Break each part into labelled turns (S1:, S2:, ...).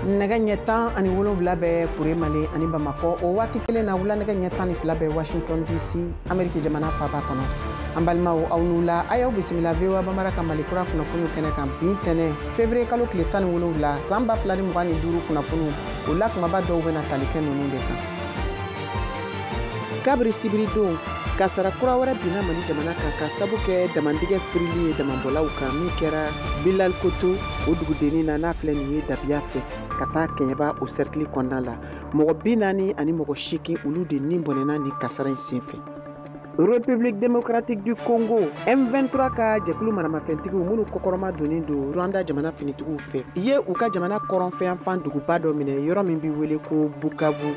S1: nɛgɛ ɲɛ tan ani wolonwula bɛ kuremale ani bamakɔ o waati kelen na wula nɛgɛ ɲɛ tan ni fila bɛ washington dc ameriki jamana faba kɔnɔ an balimaw aw ni wula a y'aw bisimila voa bambara ka mali kura kunnafoniw kɛnɛ kan bi ntɛnɛ fevriye kalo tile tan ni wolonwula san ba fila ni mugan ni duuru kunnafoniw o la kumaba dɔw bɛna tali kɛ ninnu de kan kabiri sibiridon kasara kura wɛrɛ binna mali jamana kan ka sabu kɛ damandingɛ firili ye damanbɔlaw kan min kɛra bilal koto o dugudennin na n'a filɛ nin ye dabiya fɛ ka taa kɛɲɛba o sɛrikili kɔnɔna la mɔgɔ bi naani ani mɔgɔ seegin olu de ni bɔnɛna ni kasara in senfɛ République démocratique du Congo M23 ka jɛkulu maramafɛntigiw minnu kɔkɔrɔma donnen don Rwanda jamana finitigiw fɛ ye u ka jamana kɔrɔnfɛyanfan duguba dɔ minɛ yɔrɔ min bɛ wele ko Bukavu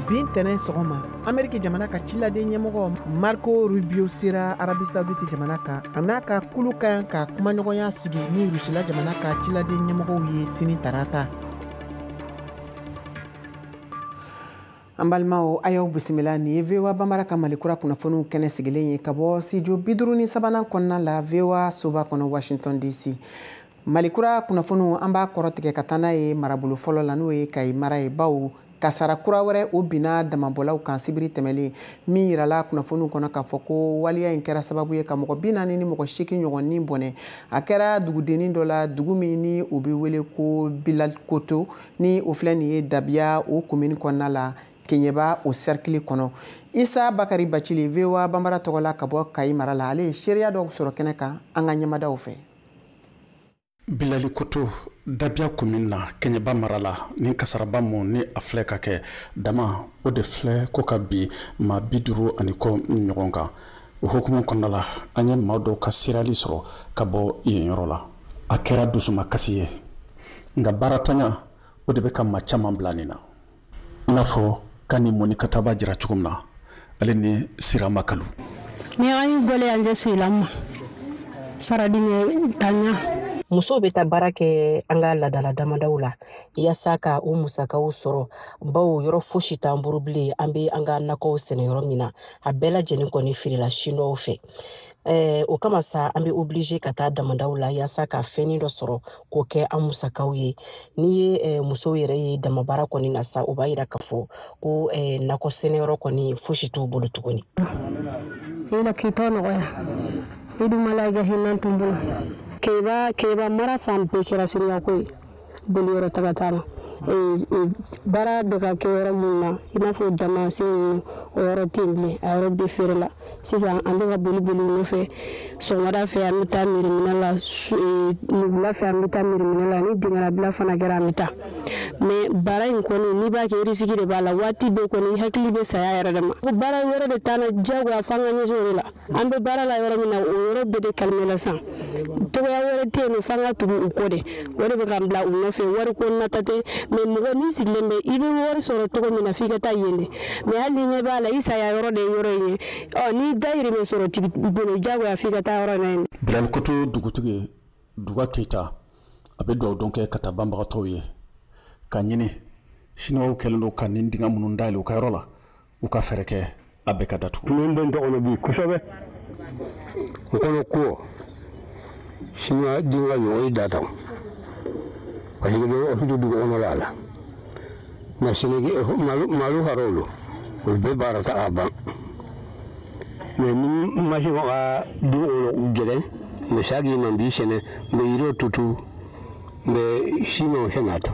S1: bi ntɛnɛn sɔgɔma ameriki jamana ka ciladen ɲɛmɔgɔ marco rubio sera arabi saudite jamana kan a n'a ka kulu ka kan ka kumaɲɔgɔnya sigi ni rusila jamana ka ciladen ɲɛmɔgɔw ye sini tarata an balimaw a y'aw bisimila nin ye voa bambara ka mali kura kunnafoniw kɛnɛ sigilen ye ka bɔ studio bi duuru ni sabanan kɔnɔna la voa soba kɔnɔ washington dc mali kura kunnafoniw an b'a kɔrɔtigɛ ka taa n'a ye marabolo fɔlɔ la n'o ye kayi mara ye bawo kasara kura wɛrɛ o binna damabɔlaw kan sibiri tɛmɛlen min yirala kunnafoniw kɔnɔ k'a fɔ ko waleya in kɛra sababu ye ka mɔgɔ bi naani ni mɔgɔ seegin ɲɔgɔn ni bɔnɛ a kɛra dugudennin dɔ la dugu min ni o bɛ wele ko bilal koto ni o filɛ nin ye dabiya o komini kɔnɔna la kɛɲɛba o sɛrikili kɔnɔ isa bakari bacili voa banbara tɔgɔ la ka bɔ kayi mara la ale ye seereya dɔw sɔrɔ kɛnɛ kan an ka ɲɛmadaw fɛ
S2: bilali koto dabiya komini na kɛɲɛba mara la ni kasaraba mun ni a filɛ ka kɛ dama o de filɛ ko ka bin maa bi duuru ani kɔ ɲɔgɔn kan o hukumu kɔnɔna la an ye maa dɔw ka seereyali sɔrɔ ka bɔ yen yɔrɔ la a kɛra dusumakasi ye nka baaratanya o de bɛ ka maa caman bila nin na i n'a fɔ kani mɔni ka ta b'a jira cogo min na ale ni sira makalu ni an y'i
S3: gɛlɛya jɛ sigilan ma saradingɛ tanya musow bɛ
S4: taa baara kɛ an ka ladala damadaw la yaasa ka u musakaw sɔrɔ bawo yɔrɔ fosi t'an bolo bilen an bɛ an ka nakɔw sɛnɛ yɔrɔ min na a bɛɛ lajɛlen kɔni firila siniwaw fɛ Eh, o kama sa an bɛ obligé ka taa damadaw la yaasa ka fɛnnin dɔ sɔrɔ k'o kɛ an musakaw ye n'i ye eh, musow yɛrɛ ye damabara kɔni na sa o b'a yira k'a fɔ ko eh, nakɔ sɛnɛyɔrɔ kɔni fosi t'u bolo
S3: tuguni Ala k'i tɔ nɔgɔya i dun ma lahinan tun bolo kɛɲɛba mara fan bɛɛ kɛra siriyako ye boli yɔrɔ taga t'a la baara bɛ ka kɛ yɔrɔ minnu na i n'a fɔ damasen ninnu o yɔrɔ tɛ yen bilen a yɔrɔ bɛɛ feerela sisan an bɛ ka boli boli nɔfɛ sɔgɔmada fɛ an bɛ taa mirimina la ni wula fɛ an bɛ taa mirimina la ni dingɛlabila fana kɛra an bɛ taa mais baara in kɔni n'i b'a kɛ risiki de b'a la waati bɛɛ kɔni i hakili bɛ saya yɛrɛ de ma ko baara wɛrɛ de t'an na diyagoya f'an ka ɲɛsin o de la an bɛ baara la yɔrɔ min na o yɔrɔ bɛɛ de kalmɛ la sisan cogoya wɛrɛ tɛ yen f'an ka tugu u kɔ de o de bɛ k'an bila u nɔfɛ wari ko nata tɛ mais mɔgɔ min sigilen bɛ i bɛ wari sɔrɔ cogo min na f'i ka taa yen de mais hali n'i ɲɛ b'a la i saya yɔrɔ de ye yɔrɔ in ye ɔ n'i dayirimɛ sɔrɔ t'i bolo diyagoya f'i ka taa yɔrɔ na yen bilali koto
S2: dugutigi duga keyita a bɛ dugawu don kɛ ka taa banbagatɔw ye k'a ɲini siniwaw kɛlen don ka nin dingɛ minnu dayɛlɛ u ka yɔrɔ la u ka fɛɛrɛ kɛ a bɛɛ ka datugu min bɛ n tɔgɔ
S5: bi kosɛbɛ n kɔnɔ ko siniwa dinka ɲɔgɔn ye data parce que bɛ ɔfidu dugu kɔnɔ la a la nka senegi malo ka dɔw don olu bɛɛ baara ta ka ban mais ni masin ka den wolo gɛlɛn mɛ sa k'i man bi sɛnɛ n bɛ yiriw tutu n bɛ siman sɛnɛ a ta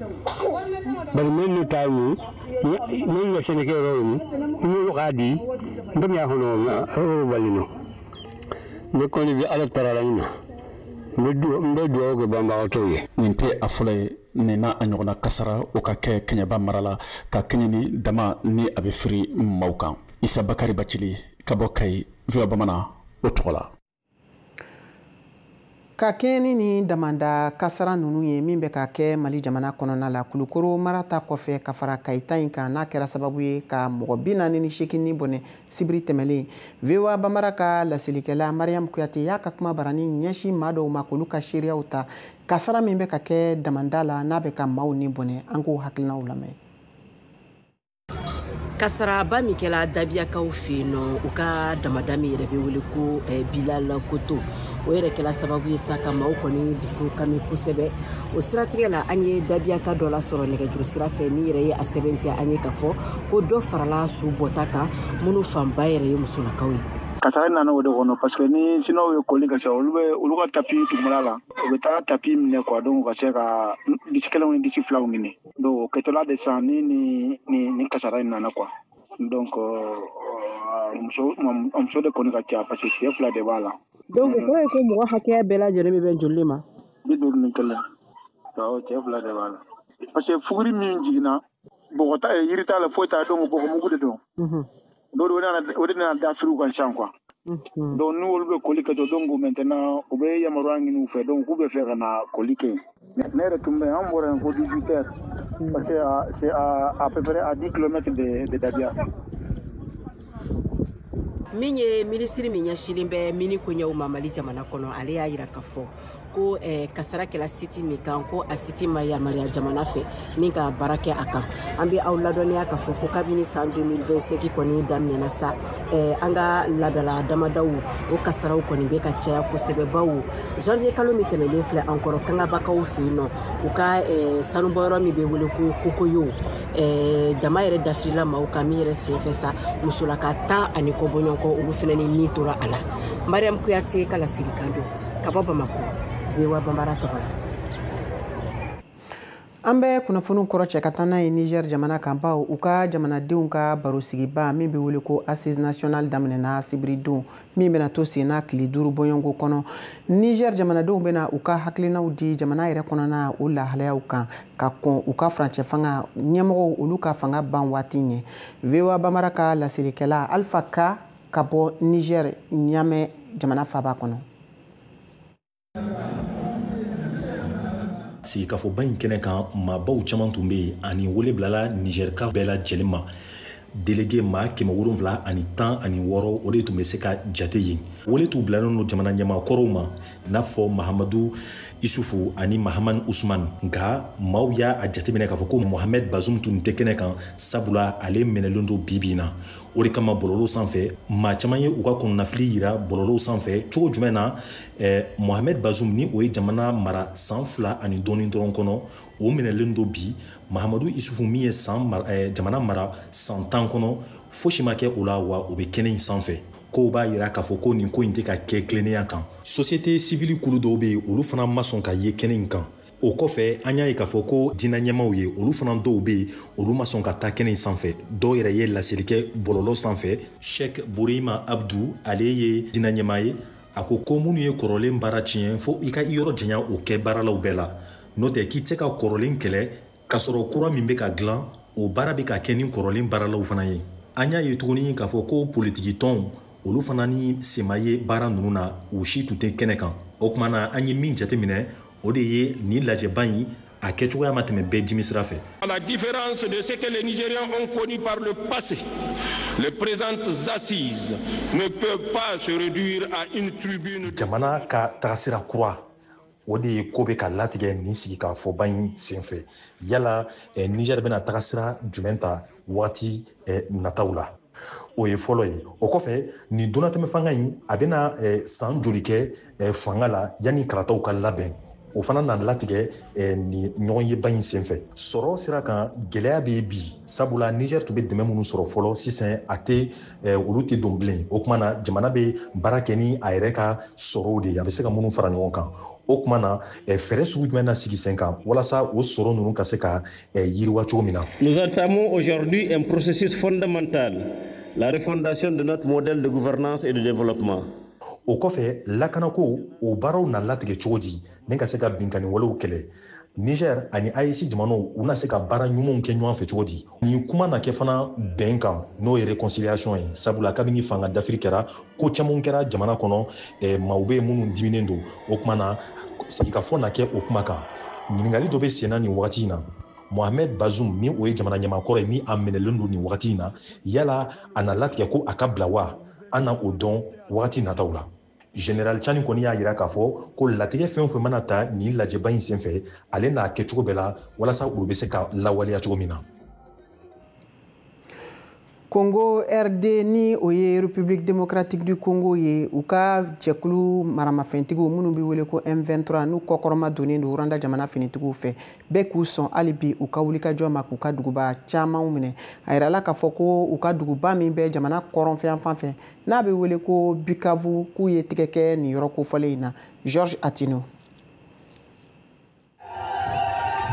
S5: bari min n'u t'a ye min ye sɛnɛkɛ yɔrɔ ye i ye yɔrɔ k'a di n bɛ y'a kɔnɔ yɔrɔ bali nɔ ne kɔni bɛ ala tara la ɲina n bɛ dugawu kɛ banbagatɔw ye nin tɛ a fɔlɔ
S2: ye nin n'a ɲɔgɔnna kasaraw ka kɛ kɛɲɛba mara la ka kɛɲɛ ni dama ni a bɛ firi maaw kan isa bakari bacili ka bɔ kayi voa bamanan o tɔgɔ la
S1: ka kɛɲɛ ni nin damanda kasara ninnu ye min bɛ ka kɛ mali jamana kɔnɔna la kulukoro mara ta kɔfɛ ka fara kayi ta in kan n'a kɛra sababu ye ka mɔgɔ bi naani ni seegin ni bɔnɛ sibiri tɛmɛlen voa bambara ka laselikɛla mariyamu kuyate y'a ka kuma barani ɲɛsin maa dɔw ma k'olu ka seereyaw ta kasara min bɛ ka kɛ damanda la n'a bɛ ka maaw ni bɔnɛ an k'o hakilinaw lamɛn
S4: kasaraba min kɛla dabiyakaw fɛ yen nɔ u ka damanda min yɛrɛ bɛ wele ko eh, bilali koto o yɛrɛ kɛla sababu ye sa ka maaw kɔni dusu kami kosɛbɛ o siratigɛ la an ye dabiyaka dɔ lasɔrɔ nɛgɛjuru sira fɛ min yɛrɛ ye a sɛmɛntiya an ye ka fɔ ko dɔ farala su bɔta kan minnu fanba yɛrɛ ye musolakaw ye kasara in nana o de
S6: kɔnɔ parce que ni siniwaw ye koli ka se olu bɛ olu ka tapi dugumana la u bɛ taa tapi minɛ quoi donc ka se ka disi kelenw ni disi filaw ɲini donc o kɛtɔ la de sa ni ni ni ni kasara in nana quoi donc muso muso de kɔni ka ca parce que cɛ fila de b'a la donc o kɔrɔ ye ko
S1: mɔgɔ hakɛya bɛɛ lajɛlen bɛ bɛn joli ma bi duuru ni
S6: kelen cɛ fila de b'a la parce que fuguri min jiginna bɔgɔ t'a ye yiri t'a la foyi t'a donc bɔgɔmugu de don don o de nana dafiri u kan sisan quoi unhun, donc n'olu bɛ koli kɛ to donc maintenant u bɛ yamaruya ɲini u fɛ donc k'u bɛ fɛ ka na koli kɛ yen ne ne yɛrɛ tun bɛ yen an bɔra yen fo 18 heures parce que à- c'est à à peu près à 10 kilomètres de de
S4: Dabia min ye minisiri min ɲɛsilen bɛ mini koɲɛw ma mali jamana kɔnɔ ale y'a jira ka fɔ ko eh, kasara kɛla siti min kan ko a siti ma yamaruya jamana fɛ ni ka baara kɛ a kan an bɛ aw ladɔnniya k'a fɔ ko kabini san 2025 kɔni daminɛna sa eh, an ka ladala damadaw o kasaraw kɔni bɛ ka caya kosɛbɛ bawo janvier kalo min tɛmɛlen filɛ an kɔrɔ kangabakaw fɛ yen nɔ u ka eh, sanubɔyɔrɔ min bɛ wele ko kokoyo eh, dama yɛrɛ dafirila maaw kan min yɛrɛ senfɛ sa musolaka tan ani kɔ bɔɲɔgɔnko olu fana ni min tora a la mariam kuyate ka laselikan don ka bɔ bamakɔ voa bambara tɔgɔ
S1: la an bɛ kunnafoniw kɔrɔcɛ ka taa n'a ye niger jamana kan bawo u ka jamanadenw ka barosigiba min bɛ wele ko assises nationales daminɛna sibiridon min bɛna to sen na tile duuru bɔɲɔgɔnko kɔnɔ niger jamanadenw bɛna u ka hakilinaw di jamana yɛrɛ kɔnɔna o lahalayaw kan ka kɔn u ka furancɛ fanga ɲɛmɔgɔw olu ka fanga ban waati ɲɛ voa bambara ka laselikɛla alpha ka ka bɔ nizɛri ɲamɛ jamana faaba
S7: kɔnɔ sigikafɔba in kɛnɛ kan maabaw caman tun bɛ yen ani wele bilala nizɛrika bɛɛ lajɛlen ma delege maa kɛmɛ wolonfila ani tan ani wɔɔrɔ o de tun bɛ se ka jate yen wele tun bilalen don jamana ɲɛmaakɔrɔw ma n'a fɔ mahamadu isufu ani mahamani usman nka maaw y'a jateminɛ k'a fɔ ko mohamɛd bazum tun tɛ kɛnɛ kan sabula ale minɛlen don bi bi in na o de kama bɔlɔlɔw sanfɛ maa caman ye u ka kɔnɔnafili yira bɔlɔlɔw sanfɛ cogo jumɛn na eh, mohamed bazum ni o ye jamana mara san fila ani dɔɔni dɔrɔn kɔnɔ o minɛlen don bi mahamadu isufu min ye san eh, jamana mara san tan kɔnɔ fosi ma kɛ o la wa o bɛ kɛnɛ in sanfɛ ko o b'a yira k'a fɔ ko nin ko in tɛ ka kɛ tilennenya kan sosiyete sivili kulu dɔw bɛ yen olu fana ma sɔn ka ye kɛnɛ in kan o kɔfɛ an y'a ye k'a fɔ ko diinɛ ɲɛmaaw ye olu fana dɔw bɛ yen olu ma sɔn ka taa kɛnɛ in sanfɛ dɔw yɛrɛ ye laseli kɛ bɔlɔlɔ sanfɛ sɛk bureyima abdu ale ye diinɛ ɲɛmaa ye a ko ko minnu ye kɔrɔlen baara tiɲɛ fo i ka i yɔrɔ janya o kɛ baaralaw bɛɛ la n'o tɛ k'i tɛ se ka kɔrɔlen kɛlɛ k'a sɔrɔ kura min bɛ ka dilan o baara bɛ ka kɛ ni kɔrɔlen baaralaw fana ye an y'a ye tuguni k'a fɔ ko politiki tɔnw olu fana ni sen ma ye baara ninnu na u si tun tɛ kɛnɛ kan o tuma na an ye min jateminɛ o de ye nin lajɛba in a kɛcogoya ma tɛmɛ bɛɛ jimi sira fɛ. À la
S8: différence de ce que les Nigériens ont connu par le passé, les présentes assises ne peuvent pas se réduire à une tribune. Jamana
S7: ka tagasira kura o de ye k'o bɛ ka latigɛ nin sigikafɔba in senfɛ yala eh, niger bɛna tagasira jumɛn ta wagati eh, nataw la o ye fɔlɔ ye o kɔfɛ nin donatɛmɛ fanga in a bɛna eh, san joli kɛ eh, fanga la yanni kalataw ka labɛn o fana na latigɛ eh, nin ɲɔgɔnyeba in senfɛ sɔrɔ sira kan gɛlɛya bɛ bi sabula niger tun bɛ dɛmɛ minnu sɔrɔ fɔlɔ sisan a tɛ olu tɛ don bilen o tuma na jamana bɛ baara kɛ ni a yɛrɛ ka sɔrɔw de ye a bɛ se ka minnu fara ɲɔgɔn kan o tuma na fɛɛrɛ sugu jumɛn na sigi sen kan walasa o sɔrɔ ninnu ka se ka Nous
S9: entamons aujourd'hui un processus fondamental, la refondation de notre modèle de gouvernance et de développement. o kɔfɛ
S7: lakanako o baaraw na latigɛ cogo di ni ka se ka binkani walew kɛlɛ niger ani AES jamanaw u na se ka baara ɲumanw kɛ ɲɔgɔn fɛ cogo di ni kuma na kɛ fana bɛn kan n'o ye réconciliation ye sabula kabini fanga dafiri kɛra ko camanw kɛra jamana kɔnɔ eh, maaw bɛ yen minnu diminen don o kuma na sigikafɔ na kɛ o kuma kan ɲininkali dɔ bɛ senna nin wagati in na mohamed bazoum ni o ye jamana ɲɛmaa kɔrɔ ye min a minɛlen don nin wagati in na yala a na latigɛ ko a ka bila wa an na o dɔn wagati nataw la général tiani kɔni y'a yira k'a fɔ ko latigɛ fɛn o fɛn mana ta nin lajɛba in senfɛ ale n'a kɛ cogo bɛɛ la walasa olu bɛ se ka lawaleya cogo min na
S1: Congo RD ni o ye République démocratique du Congo ye u ka jɛkulu maramafɛntigiw minnu bɛ wele ko M23 n'u kɔkɔrɔma donnen don Rwanda jamana finitigiw fɛ bɛ k'u sɔn hali bi u ka wulikajɔ ma k'u ka duguba camanw minɛ a yirala k'a fɔ ko u ka duguba min bɛ jamana kɔrɔnfɛyanfan fɛ n'a bɛ wele ko Bukavu k'u ye tigɛ kɛ nin yɔrɔ kofɔlen in na Georges Attino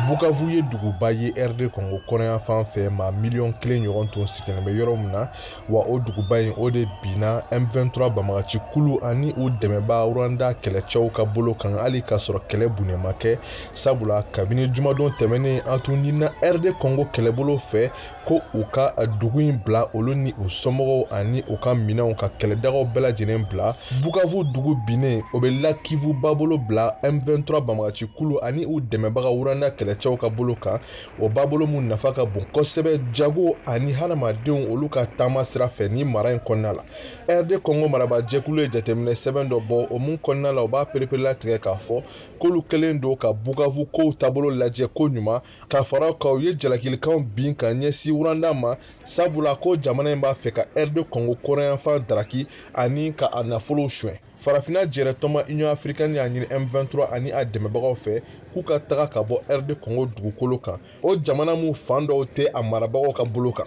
S10: bukavu ye duguba ye rd congo kɔrɔnyanfan fɛ maa miliyɔn kelen ɲɔgɔn tun sigilen bɛ yɔrɔ min na wa o duguba in o de binna m23 banbagaci kulu ani u dɛmɛbaa rwanda kɛlɛcɛw ka bolo kan hali k'a sɔrɔ kɛlɛ bunnen ma kɛ sabula kabini jumadon tɛmɛnen a tun ɲinina rd congo kɛlɛbolo fɛ ko u ka dugu in bila olu ni u somɔgɔw ani u ka minɛnw ka kɛlɛdagaw bɛɛ lajɛlen bila bukavu dugu binnen o bɛ lac kivu babolo bila m23 banbagaci kulu ani u dɛmɛbaga rwanda kɛlɛcɛw ka bolo kan o babolo min nafa ka bon kosɛbɛ jago ani hadamadenw olu ka taama sira fɛ nin mara in kɔnɔna la rd kɔngo maraba jɛkulu ye jateminɛ sɛbɛn dɔ bɔ o min kɔnɔna la u b'a pereperelatigɛ k'a fɔ k'olu kɛlen don ka bukavu kow taabolo lajɛ ko ɲuman ka fara kan u ye jalakilikanw bin ka ɲɛsin rwanda ma sabula ko jamana in b'a fɛ ka rd kɔngo kɔrɔnyanfan daraki ani ka a nafolow suɲɛ farafina jɛrɛtɔnba union africaine y'a ɲini m23 ani a dɛmɛbagaw fɛ k'u ka taga ka bɔ rd kɔngo dugukolo kan o jamana min fan dɔw tɛ a marabagaw ka bolo kan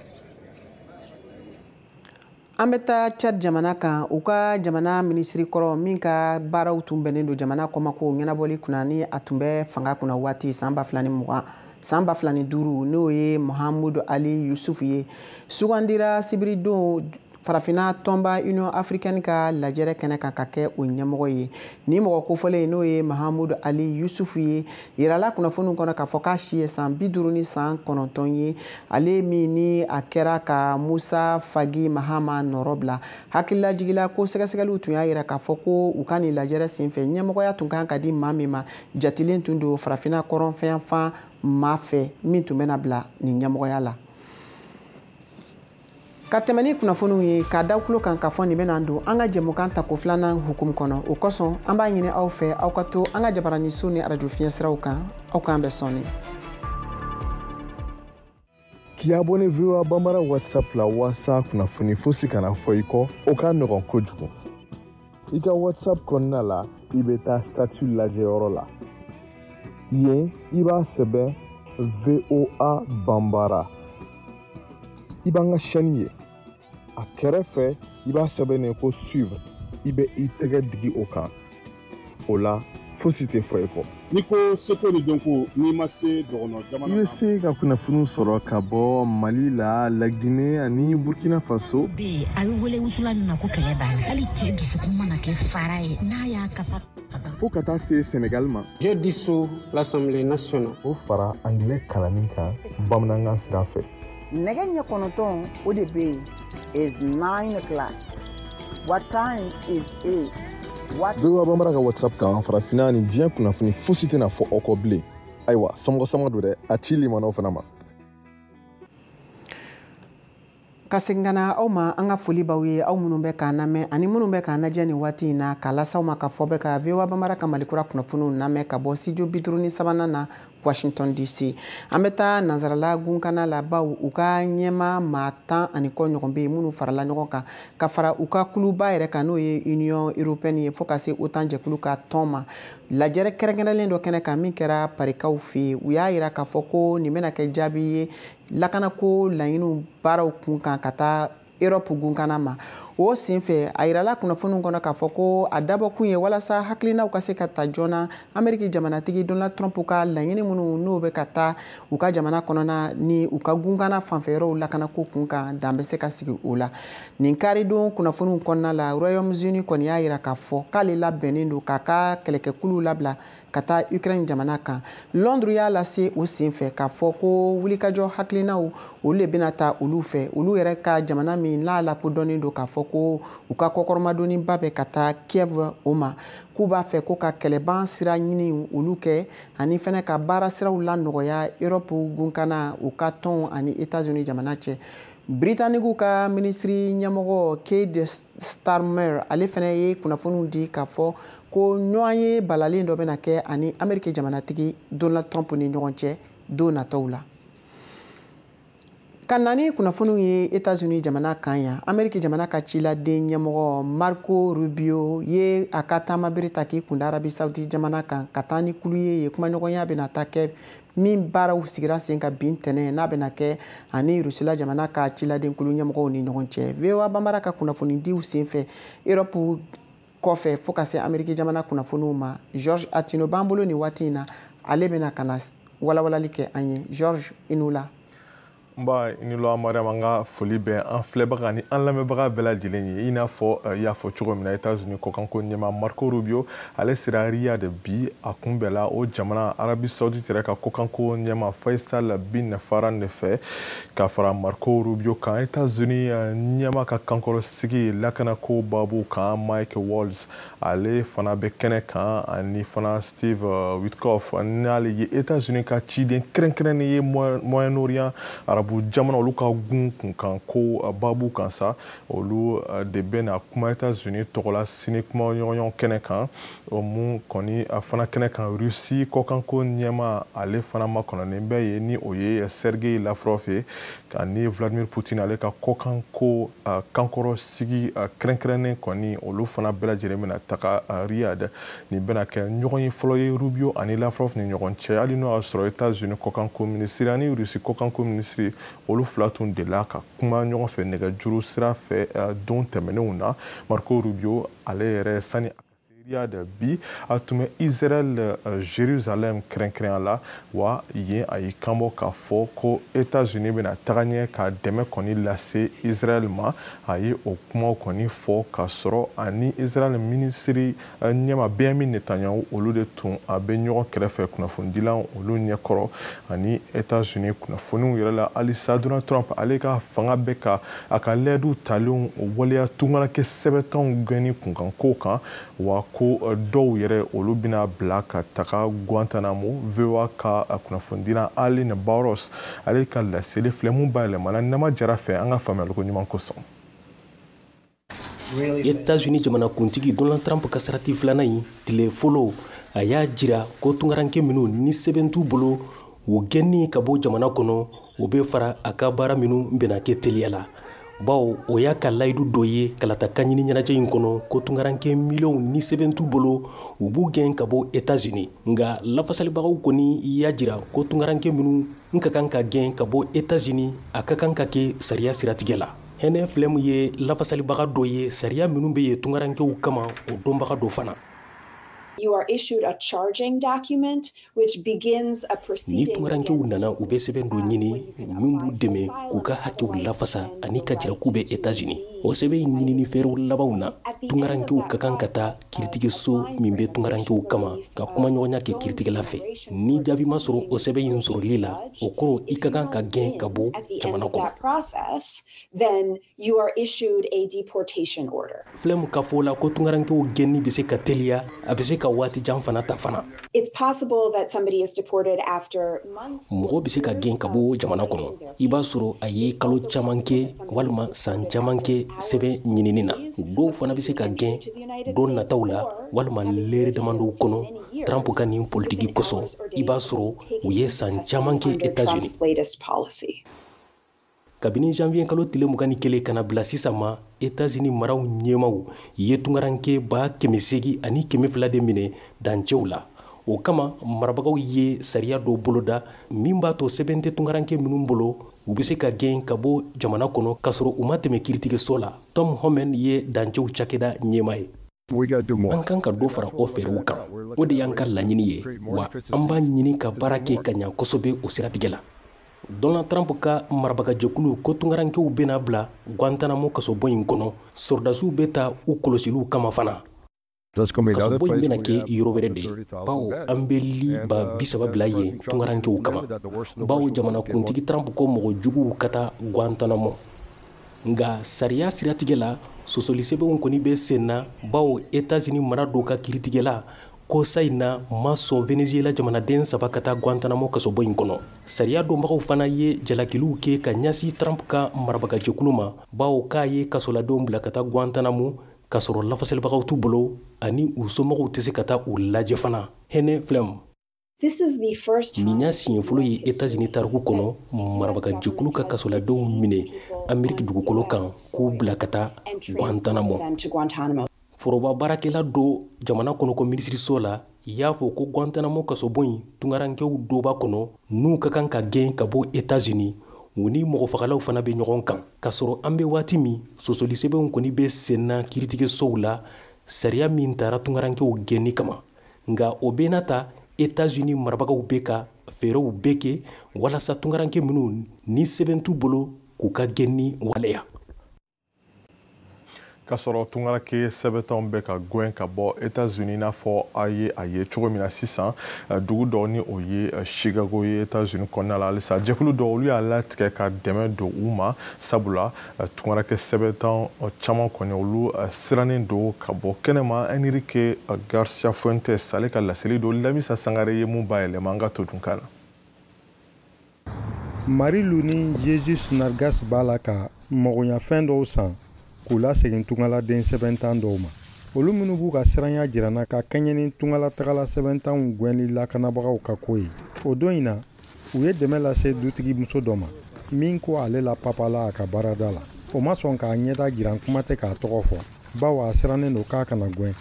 S1: An bɛ taa tchad jamana kan u ka jamana minisiri kɔrɔ min ka baaraw tun bɛnnen don jamana kɔmako ɲɛnabɔli kunna ni a tun bɛ fanga kunna waati san ba fila ni mugan san ba fila ni duuru n'o ye mahamudu ali yusufu ye sugandira sibiridon farafinna tɔnba union africaine ka lajɛrɛ kɛnɛ kan ka kɛ o ɲɛmɔgɔ ye ni mɔgɔ kofɔlen n'o ye mahamudu ali yusufu ye Yirala kunnafoniw kɔnɔ k'a fɔ k'a si ye san bi duuru ni san kɔnɔntɔn ye ale min ni a kɛra ka musa fagi mahama nɔrɔ bila hakililajigila ko sɛgɛsɛgɛliw tun y'a yira k'a fɔ ko u ka nin lajɛrɛ senfɛ ɲɛmɔgɔya tun kan ka di maa min ma jatilen tun don farafina kɔrɔnfɛyanfan maa fɛ min tun bɛna bila nin ɲɛmɔgɔya la ka tɛmɛ ni kunnafoniw ye k'a da tulo kan k'a fɔ nin bɛna don an ka jɛmukan tako filanan hukumu kɔnɔ o kosɔn an b'a ɲini aw fɛ aw ka to an ka jabaraninso ni arajo fiɲɛ siraw kan aw k'an bɛn
S10: sɔɔni k'i abonné voa banbara whatsapp la walasa kunnafoni fosi kana fɔ i kɔ o ka nɔgɔn kojugu i ka whatsapp kɔnɔna la i bɛ taa statut lajɛyɔrɔ la yen i b'a sɛbɛn voa banbara i b'an ka chaîne ye a kɛrɛfɛ i b'a sɛbɛnnen ko suivre i bɛ i tɛgɛ digi o kan o la fosi tɛ fɔ i kɔ n'i ko
S11: seko ni dɔnko n'i ma se dɔgɔnɔ jamana i bɛ se
S10: ka kunnafoniw sɔrɔ ka bɔ mali la lagine ani burkina faso bɛ yen a bɛ wele
S12: wusulan min ma ko kɛlɛ banna hali cɛ dusukun mana kɛ fara ye n'a y'a kasa fo ka taa
S10: se senegal ma je
S13: dissous l'assemblée nationale o fara angilɛ
S10: kalanni kan bamanankan sira fɛ nɛgɛ
S14: ɲɛ kɔnɔntɔn o de bɛ yen it's nine o'clock what time is it voa
S10: banbara ka whatsapp kan farafinna ni diɲɛ kunnafoni fosi tɛna fɔ aw kɔ bilen ayiwa somɔgɔ sama don dɛ a ci limanaw fana
S1: ma ka segin ka na aw ma an ka foli b'aw ye aw minnu bɛ k'an lamɛn ani minnu bɛ k'an lajɛ nin waati in na k'a las'aw ma k'a f'aw bɛ ka voa banbara ka malikura kunnafoniw lamɛn ka bɔ studio bi duuru ni sabanan na washington dc an bɛ taa nansarala gunkana la bawo u ka ɲɛmaa maa tan ani kɔ ɲɔgɔn bɛ yen minnu farala ɲɔgɔn kan ka fara u ka kuluba yɛrɛ kan n'o ye union européenne ye fɔɔ ka se otan jɛkulu ka tɔn ma lajɛrɛ kɛrɛnkɛrɛnlen dɔ kɛnɛ kan min kɛra parikaw fɛ yen u y'a yira k'a fɔ ko nin bɛna kɛ jaabi ye lakanako laɲiniw baaraw kun kan ka taa Europe gunkana ma o senfɛ a yirala kunnafoniw kɔnɔ k'a fɔ ko a dabɔkun ye walasa hakilinaw ka se ka ta joona ameriki jamanatigi donald trump ka laɲini minnu n'o bɛ ka taa u ka jamana kɔnɔna ni u ka gunkana fanfɛyɔrɔw lakanako kun kan dan bɛ se ka sigi o la nin karidon kunnafoniw kɔnɔna la royaume-uni kɔni y'a yira k'a fɔ k'ale labɛnnen don k'a ka kɛlɛkɛkuluw labila ka taa ukraine jamana kan londres y'a lase o sen fɛ k'a fɔ ko wulikajɔ hakilinaw olu le bɛna ta olu fɛ olu yɛrɛ ka jamana min n'a lakodɔnnen don k'a fɔ ko u ka kɔkɔrɔmadonniba bɛ ka taa kiev o ma k'u b'a fɛ ko ka kɛlɛban sira ɲini olu kɛ ani fɛnɛ ka baara siraw lanɔgɔya europe gunkana u ka tɔn ani etats unis jamana cɛ britanigiw ka minisiri ɲɛmɔgɔ keir starmer ale fɛnɛ ye kunnafoniw di k'a fɔ ko ɲɔgɔnye balalen dɔ bɛna kɛ ani ameriki jamanatigi donald trump ni ɲɔgɔn cɛ don nataw la ka na ni kunnafoniw ye etats-unis jamana kan yan ameriki jamana ka ciladen ɲɛmɔgɔ marco rubio ye a ka taamabere ta k'i kunda arabi saudi jamana kan ka taa ni kulu ye yen kumaɲɔgɔnya bɛna taa kɛ min baaraw sigira sen kan bi ntɛnɛn n'a bɛna kɛ ani rusila jamana ka ciladen kulu ɲɛmɔgɔw ni ɲɔgɔn cɛ voa banbara ka kunnafonidiw senfɛ erɔpu kɔfɛ fo ka se ameriki jamana kunnafoniw ma georges attino b'an bolo nin waati in na ale bɛna ka na walawalali kɛ an ye georges i ni wula nba
S10: i ni wula mariam an ka foli bɛ an filɛbaga ni an lamɛnbaga bɛɛ lajɛlen ye i n'a fɔ eh, y'a fɔ cogo min na etats unis kɔkanko ɲɛma marco rubio ale sera riyad bi a kunbɛnna o jamana arabi saudite yɛrɛ ka kɔkanko ɲɛma faisal bin farhan de fɛ ka fara marco rubio kan etats unis eh, ɲɛma ka kankɔrɔ sigi lakanako babu kan Mike Waltz ale fana bɛ kɛnɛ kan ani fana Steve uh, Witkoff n'ale ye États-Unis ka ciden kɛrɛnkɛrɛnnen ye Moyen-Orient arabu jamana olu ka gun kunkanko uh, babu kan sa olu uh, de bɛna kuma États-Unis tɔgɔ la sini kumaɲɔgɔnya kɛnɛ kan o mun kɔni fana kɛnɛ kan Russie kɔkanko ɲɛma ale fana makɔnɔnen bɛ yen ni o ye Sergei Lavrov ye ani vladimir putin ale ka kɔkanko kankɔrɔsigi kɛrɛnkɛrɛnnen kɔni olu fana bɛɛ lajɛlen bɛna taga riyad nin bɛna kɛ ɲɔgɔnye fɔlɔ ye rubio ani lavrov ni ɲɔgɔn cɛ hali n'o y'a sɔrɔ etats unis kɔkanko minisiri ani rusi kɔkanko minisiri olu fila tun delila ka kuma ɲɔgɔn fɛ nɛgɛjuru sira fɛ don tɛmɛnenw na marco rubio ale yɛrɛ sani se Riyad bi a tun bɛ Israɛl Jerusalem kɛrɛnkɛrɛnya la, wa yen a y'i kan bɔ k'a fɔ ko Etats-Unis bɛna taga ɲɛ ka dɛmɛ kɔni lase Israɛl ma. A ye o kumaw kɔni fɔ k'a sɔrɔ a ni Israɛl minisiri ɲɛma Benyamin Netanyahu olu de tun a bɛ ɲɔgɔn kɛrɛfɛ kunnafonidilaw olu ɲɛkɔrɔ ani Etats-Unis kunnafoniw yɛrɛ la. Halisa Donald Trump ale ka fanga bɛ ka a ka lɛɛduw talenw waleya tungaranke sɛbɛntanw gɛnni kunkan kow kan, wa ko dɔw yɛrɛ olu bɛna bila ka taga Guantanamo. VOA ka kunnafonidilan Aline Barros ale ka laseli filɛ mun bayɛlɛmana Nama Jara fɛ an ka faamuyaliko ɲuman
S15: kosɔn. Etats-Unis jamanakuntigi Donald Trump ka sarati filanan in tile fɔlɔ a y'a jira ko tungaranke minnu ni sɛbɛn t'u bolo u gɛnni ka bɔ jamana kɔnɔ o bɛ fara a ka baara minnu bɛna kɛ teliya la bawo o y'a ka layidu dɔ ye kalata kanɲini ɲɛnajɛ in kɔnɔ ko tunkaranke miliyɔnw ni sɛbɛn t'u bolo u b'u gɛn ka bɔ etats-unis nka lafasalibagaw kɔni y'a jira ko tunkaranke minnu n ka kan ka gɛn ka bɔ etats-unis a ka kan ka kɛ sariya siratigɛ la Hannah Flamm ye lafasalibaga dɔ ye sariya minnu bɛ yen tunkarankew kama o dɔnbaga dɔ fana You are
S16: issued a charging document ni tunkarankew nana
S15: u bɛ sɛbɛn dɔ ɲini min b'u dɛmɛ k'u ka hakɛw lafasa ani k'a jira k'u bɛ etats-unis o sɛbɛn in ɲinini fɛɛrɛw labanw na tunkarankew ka kan ka taa kiritigɛso min bɛ tunkarankew kama ka kumaɲɔgɔnya kɛ kiritigɛla fɛ ni jaabi ma sɔrɔ o sɛbɛn in sɔrɔli la o kɔrɔ i ka kan ka gɛn ka bɔ jamana kɔnɔ
S16: you are issued a deportation order. Flamm
S15: ka fɔ la ko tungarankew gɛnni bɛ se ka teliya a bɛ se ka waati jan fana ta fana. It's possible
S16: that somebody is deported after months. Mɔgɔ bɛ se ka gɛn ka
S15: bɔ jamana kɔnɔ. I b'a sɔrɔ a ye kalo caman kɛ walima san caman kɛ sɛbɛn ɲinini na. Dɔw fana bɛ se ka gɛn don nataw la walima lɛrɛ damadɔw kɔnɔ Trump ka nin politiki kosɔn. I b'a sɔrɔ u ye san caman kɛ États-Unis. kabini janvier kalo tile mugan ni kelen ka na bila sisan ma etazini maraw ɲɛmaaw ye tungaranke ba kɛmɛ segin ani kɛmɛ fila de minɛ dancɛw la o kama marabagaw ye sariya dɔ boloda min b'a to sɛbɛn tɛ tungaranke minnu bolo u bɛ se ka gɛn ka bɔ jamana kɔnɔ k'a sɔrɔ u ma tɛmɛ kiritigɛso la tom homan ye dancɛw cakɛda ɲɛmaa ye an kan ka dɔ fara o fɛɛrɛw kan o de y'an ka laɲini ye wa an b'a ɲini ka baara kɛ ka ɲa kosɛbɛ o siratigɛ la donald trump ka marabagajɛkulu ko tunkarankew bɛna bila guantanamo kasobon in kɔnɔ sɔrɔdasiw bɛ taa u kɔlɔsiliw kama fana kasobon in bɛna kɛ yɔrɔ wɛrɛ de bawo an bɛ li ba bisaba bila yen tunkarankew kama bawo jamanakuntigi trump ko mɔgɔ juguw ka taa guantanamo nka sariya siratigɛ la sɔsɔlisɛbɛnw kɔni bɛ sen na bawo etazini mara dɔ ka kiritigɛla kɔsa in na ma sɔn venezuela jamanaden saba ka taa guantanamo kasobon in kɔnɔ sariya dɔnbagaw fana ye jalakiliw kɛ ka ɲɛsin trump ka marabagajɛkulu ma bawo k'a ye kasoladenw bila ka taa guantanamo k'a sɔrɔ lafasalibagaw t'u bolo ani u somɔgɔw tɛ se ka taa u lajɛ fana Hannah Flamm
S16: Nin y'a siɲɛ fɔlɔ
S15: ye etazini tariku kɔnɔ marabagajɛkulu ka kasoladenw minɛ Ameriki dugukolo kan k'u bila ka taa Guantanamo forobabaarakɛla dɔ jamana kɔnɔko minisiriso la y'a fɔ ko Guantanamo kasobon in tunkarankew dɔ b'a kɔnɔ n'u ka kan ka gɛn ka bɔ etazini u ni mɔgɔ fagalaw fana bɛ ɲɔgɔn kan k'a sɔrɔ an bɛ waati min sɔsɔlisɛbɛnw kɔni bɛ senna kiiritigɛsow la sariya min taara tunkarankew gɛnni kama nka o bɛɛ n'a ta etats-unis marabagaw bɛ ka fɛɛrɛw bɛɛ kɛ walasa tunkaranke minnu ni sɛbɛn t'u bolo k'u ka gɛnni waleya
S10: k'a sɔrɔ tunkaranke sɛbɛntanw bɛ ka gwɛn ka bɔ etats-unis n'a fɔ a ye a ye cogo min na sisan eh, dugu dɔ ni o ye eh, chicago ye etats-unis kɔnɔna la halisa jɛkulu dɔ olu y'a latigɛ ka dɛmɛ don u ma sabula tunkaranke sɛbɛntan caman kɔni olu sirannen don ka bɔ kɛnɛma Enrique Garcia Fuentes ale ka laseli don Lamisa Sangare ye mun bayɛlɛma an ka todunkan na. Marilu
S17: ni Jesus Nargas b'a la ka magoɲafɛn dɔw san k'u lasegin tunkaladen sɛbɛntan dɔw ma. Olu minnu b'u ka siranya jiran na ka kɛɲɛ ni tunkalatagala sɛbɛntanw gwɛnli lakanabagaw ka ko ye, o don in na, u ye dɛmɛ lase dutigi muso dɔ ma min ko ale lapapala a ka baarada la o ma sɔn k'a ɲɛda jiran kuma tɛ k'a tɔgɔ fɔ bawo a sirannen don k'a kana gwɛn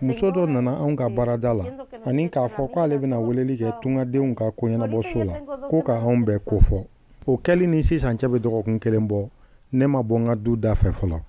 S17: muso dɔ nana anw ka baarada la ani k'a fɔ k'ale bɛna weleli kɛ tungadenw ka koɲɛnabɔso la ko ka anw bɛɛ kofɔ o kɛli ni sisan cɛ bɛ dɔgɔkun kelen bɔ ne ma bɔ n ka du da fɛ fɔlɔ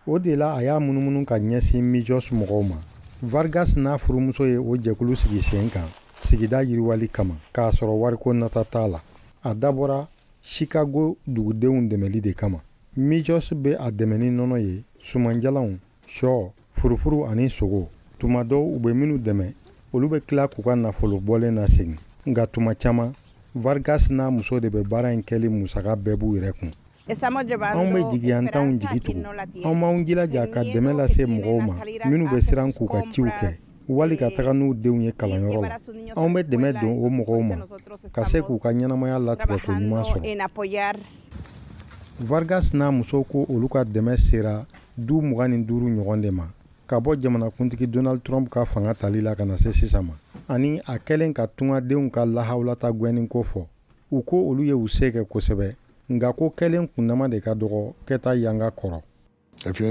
S17: o de la a y'a munumunu ka ɲɛsin mijos mɔgɔw ma vargas n'a furumuso ye o jɛkulu sigi sen kan sigida yiriwali kama k'a sɔrɔ wariko nata t'a la a dabɔra chicago dugudenw dɛmɛli de kama mijos bɛ a dɛmɛ ni nɔnɔ ye sumanjalanw shɔ Furufuru ani sogo tuma dɔw u bɛ minnu dɛmɛ olu bɛ tila k'u ka nafolo bɔlen nasegin nka tuma caman vargas n'a muso de bɛ baara in kɛli musaka bɛɛ b'u yɛrɛ kun anw bɛ jigiyantanw jigi tugu anw b'anw jilaja ka dɛmɛ lase mɔgɔw ma minnu bɛ siran k'u ka ciw kɛ wali ka taga n'u denw ye kalanyɔrɔ la anw bɛ dɛmɛ don o mɔgɔw ma ka se k'u ka ɲɛnamaya latigɛ ko ɲuman sɔrɔ vargas n'a muso ko olu ka dɛmɛ sera du mugan ni duuru ɲɔgɔn de ma ka bɔ jamanakuntigi donald trump ka fanga tali la ka na se sisan ma ani a kɛlen ka tungadenw ka lahawulata gwɛnni ko fɔ u ko olu ye u se kɛ kosɛbɛ nka ko kɛlen kunnama de ka dɔgɔ kɛta yanga kɔrɔ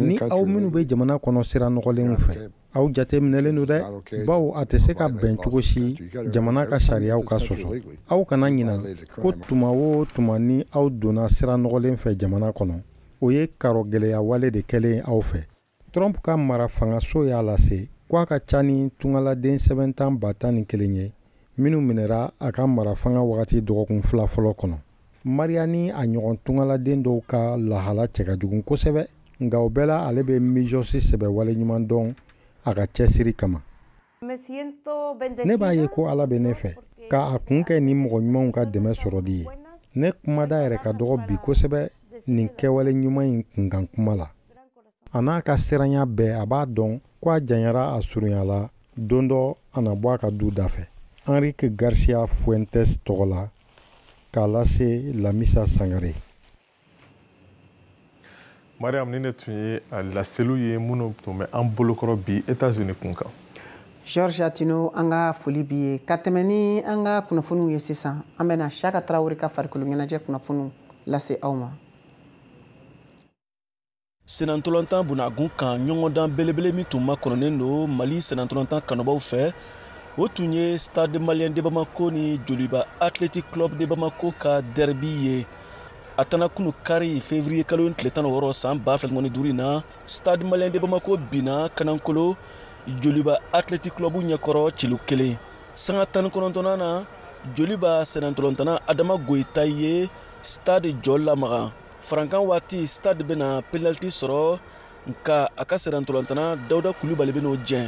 S17: ni aw minnu bɛ jamana kɔnɔ sira nɔgɔlenw fɛ Aw jateminɛlen don dɛ baw a tɛ se ka bɛn cogo si jamana ka sariyaw ka sɔsɔ aw kana ɲina ko tuma o tuma ni aw donna sira nɔgɔlen fɛ jamana kɔnɔ o ye karo gɛlɛya wale de kɛlen aw fɛ Trump ka mara fangaso y'a lase ko a ka ca ni tungaladen sɛbɛnntan ba tan ni kelen ye minnu minɛra a ka mara fanga wagati dɔgɔkun fila fɔlɔ kɔnɔ Maria ni a ɲɔgɔn tungaladen dɔw ka lahala cɛ ka jugu kosɛbɛ nka o bɛɛ la ale bɛ Mijɔsi sɛbɛ wale ɲuman dɔn a ka cɛsiri kama ne b'a ye ko ala bɛ ne fɛ k'a kun kɛ ni mɔgɔ ɲumanw ka dɛmɛ sɔrɔli ye ne kumada yɛrɛ ka dɔgɔ bi kosɛbɛ nin kɛwale ɲuman in kunkan kuma la a n'a ka siranya bɛɛ a b'a dɔn ko a janyara a surunyala don dɔ a na bɔ a ka du da fɛ enrique garcia fuentes tɔgɔ la k'a lase lamisa sangare
S10: mariam ninnu tun ye a laseliw ye minnu tun bɛ an bolokɔrɔ bi etats-unis kun kan georges
S1: attino an ka foli b'i ye ka tɛmɛ ni an ka kunnafoniw ye sisan an bɛna shaka tarawele ka farikolo ɲɛnajɛ kunnafoniw lase aw ma
S18: sennantolatan bunakun kan ɲɔgɔndan belebele min tun makɔnɔnen don mali sennantolatan kanubaw fɛ o tun ye stade malien de bamako ni joliba athletic club de bamako ka derby ye a tana kunu kari fevriye kalo tile tan ni wɔɔrɔ san ba fila ni mugan ni duuru in na stade malien de bamako binna kanankolo joliba athletic club ɲɛkɔrɔ celu kelen sanga tan ni kɔnɔntɔnnan na joliba sennantolatanna adama goyita ye stade jɔ lamaga farankan waati stade bɛna penaliti sɔrɔ nka a ka sennantolatanna dawuda kulubali bɛn'o jɛn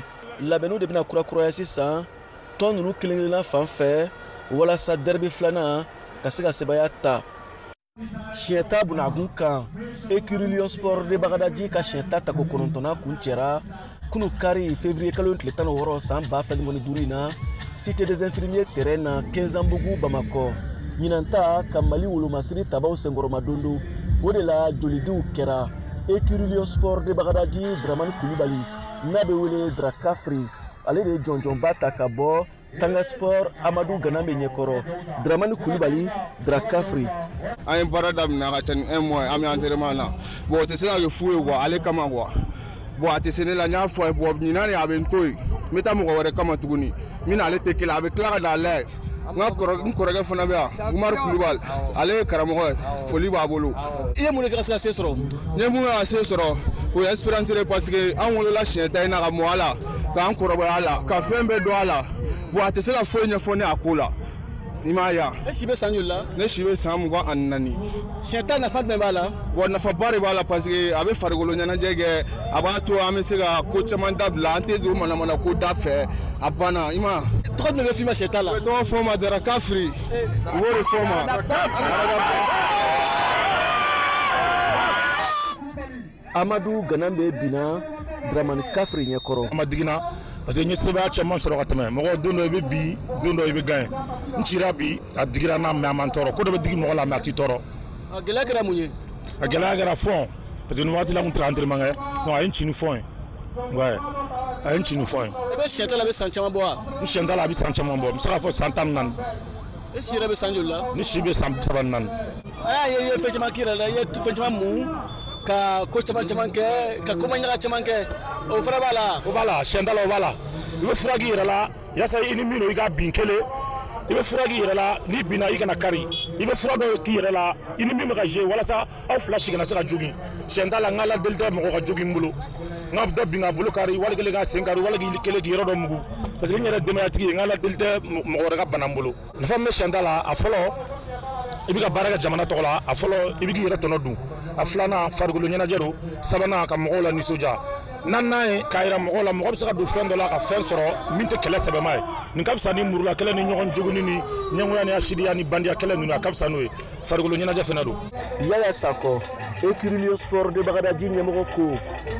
S18: labɛnniw de bɛna kurakuraya sisan tɔn ninnu kelen kelenna fan fɛ walasa derby filanan ka se ka sebaya ta siɲɛ ta bunakun kan écurie lion sport de bagadaji ka siɲɛ ta tako kɔnɔntɔnnan kuncɛra kunu kari fevriye kalo tile tan ni wɔɔrɔ san ba fila ni mugan ni duuru in na cité des infirmiers terrain na kɛnzanbugu bamakɔ ɲinan ta ka mali wolomasiri tabaw senkɔrɔmadondon o de la jolidiw kɛra écurie lion sport de bagadaji dramani kulibali n'a bɛ wele drakafri ale de ye jɔnjɔnba ta ka bɔ tanga sport amadu ganabe ɲɛkɔrɔ dramani kulubali drakafri an
S19: ye baara daminɛ ka ca ni un mois an bɛ entraînement na bon o tɛ se ka kɛ fu ye quoi ale kama quoi bon a tɛ se ne la n y'a fɔ a ye bon ɲinan de a bɛ n to yen n bɛ taa mɔgɔ wɛrɛ kama tuguni min n'ale tɛ kelen a bɛ tila ka n'a lajɛ n ka kɔrɔ n kɔrɔkɛ fana bɛ yan umaru kulubali ale ye karamɔgɔ ye foli b'a bolo i ye mun de kɛ ka se ka
S18: se sɔrɔ n ye mun kɛ ka se
S19: sɔrɔ o ye expérience de ye parce que an wolola siɲɛ ta in na ka mɔ a la k'an kɔrɔbɔ a la ka fɛn bɛɛ dɔn a la bon a tɛ se ka foyi ɲɛfɔ ne a ko la i m'a ye e si bɛ san joli
S18: la ne si bɛ san mugan
S19: ani naani siɲɛ ta nafa
S18: jumɛn b'a la bon nafaba de b'a la
S19: parce que a bɛ farikolo ɲɛnajɛ kɛ a b'a to an bɛ se ka ko caman dabila an tɛ don manamana ko da fɛ a banna i ma tɔgɔ jumɛn bɛ f'i ma siɲɛ ta
S18: la u bɛ tɔgɔ fɔ n ma
S19: dra kafiri u b'o de fɔ n ma
S18: amadu ganambe binna dramani kafiri ɲɛ kɔrɔ a ma digi
S20: n na parce que n ye sebaaya caman sɔrɔ ka tɛmɛ mɔgɔ don dɔ i bɛ bin don dɔ i bɛ gagner n cira bi a digira n na mais a ma n tɔɔrɔ ko dɔ bɛ digi mɔgɔ la mais a t'i tɔɔrɔ a gɛlɛya kɛra
S18: mun ye a gɛlɛya kɛra
S20: fond parce que nin waati la n tun tɛ entraînement kɛ donc a ye n ci ni fond ye ouais a ye n ci ni fond ye i bɛ siyɛn ta la a bɛ san
S18: caman bɔ wa n siyɛn ta la a bɛ san caman
S20: bɔ n bɛ se k'a fɔ san tan ni naani e si
S18: yɛrɛ bɛ san joli la ne si bɛ san bi saba
S20: ni naani a y'a ye i
S18: ye fɛn caman k'i yɛrɛ la i ye fɛn caman mun ka ko caman caman kɛ ka komaɲaga caman kɛ o fana b'a la o b'a la siyɛn ta la o
S20: b'a la i bɛ fura k'i yɛrɛ la yasa i ni min don i k'a bin kelen i bɛ fura k'i yɛrɛ la n'i binna i kana kari i bɛ fura dɔ k'i yɛrɛ la i ni min bɛ ka jouer walasa aw fila si kana se ka jogin siyɛn ta la n ka ala deli tɛ mɔgɔ ka jogin n bolo n ka dɔ bin k'a bolo kari wali kelen k'a sen kari wali k'i kelen k'i yɔrɔ dɔ mugu parce que n yɛrɛ denbayatigi ye n ka ala deli tɛ mɔgɔ wɛrɛ ka bana n bolo nafa min bɛ siyɛn ta la a fɔlɔ i bɛ ka baara kɛ jamana tɔgɔ la a fɔlɔ i bɛ k'i yɛrɛ tɔnɔ dun a filanan farikolo ɲɛnajɛ don sabanan ka mɔgɔw lanisɔndiya naaninan ye k'a jira mɔgɔw la mɔgɔ bɛ se ka don fɛn dɔ la ka fɛn sɔrɔ min tɛ kɛlɛ sɛbɛma ye nin ka fisa ni murula kɛlɛ ni ɲɔgɔn jogini ni ɲɛngoya ni hasidiya ni bandiya kɛlɛ ninnu a ka fisa n'o ye farikolo ɲɛnajɛ fana don yaya
S18: sakɔ écurie lion sport de bagadaji ɲɛmɔgɔ ko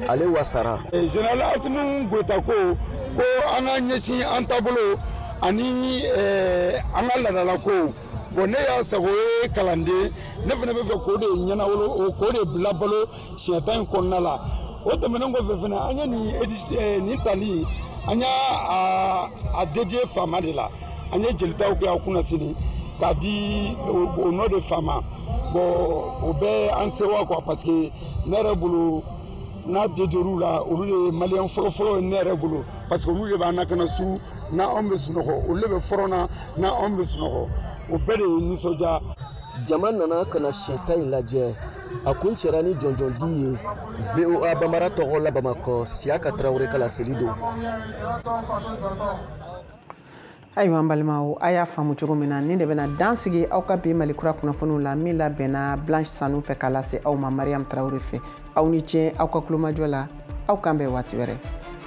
S18: ale wasara général eh, asimi
S19: goyita ko ko an ka ɲɛsin an taabolo ani eh, an ka laadalakow bon ne y'a sago ye kalanden ne fana b'a fɛ k'o de ɲɛnawolo k'o de bila balo siɲɛ ta in kɔnɔna la o tɛmɛnen kɔfɛ fana an ye nin eh, nin tali an y'a a dédier fama de la an ye jelitaw kɛ a kunna sini k'a di o nɔ de fama bon o b'an sɛwa quoi parce que ne yɛrɛ bolo n'a dédier u la olu de ye maliyɛn fɔlɔfɔlɔ ye ne yɛrɛ bolo parce que olu de b'an lakana su n'anw bɛ sunɔgɔ olu de bɛ front na n'anw bɛ sunɔgɔ o bɛɛ de ye nisɔndiya jama nana
S18: ka na siyɛta in lajɛ a kuncɛra ni jɔnjɔn di ye voa bambara tɔgɔ la bamakɔ siyaka tarawele ka laseli don
S1: ayiwa an balimaw a y'a faamu cogo min na nin de bɛna dan sigi aw ka bi malikura kunnafoniw la min labɛnna blanche sanu fɛ k'a lase aw ma mariam tarawele fɛ aw ni ce aw ka tulomajɔ la aw k'an bɛn waati wɛrɛ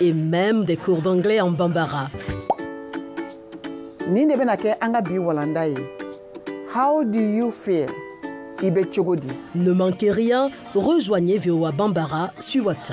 S21: Et même des cours d'anglais en bambara. Nin de bɛna kɛ an ka bi
S14: walanda ye. How do you feel? I bɛ
S21: cogo di? Ne manquez rien, rejoignez VOA Bambara sur WhatsApp.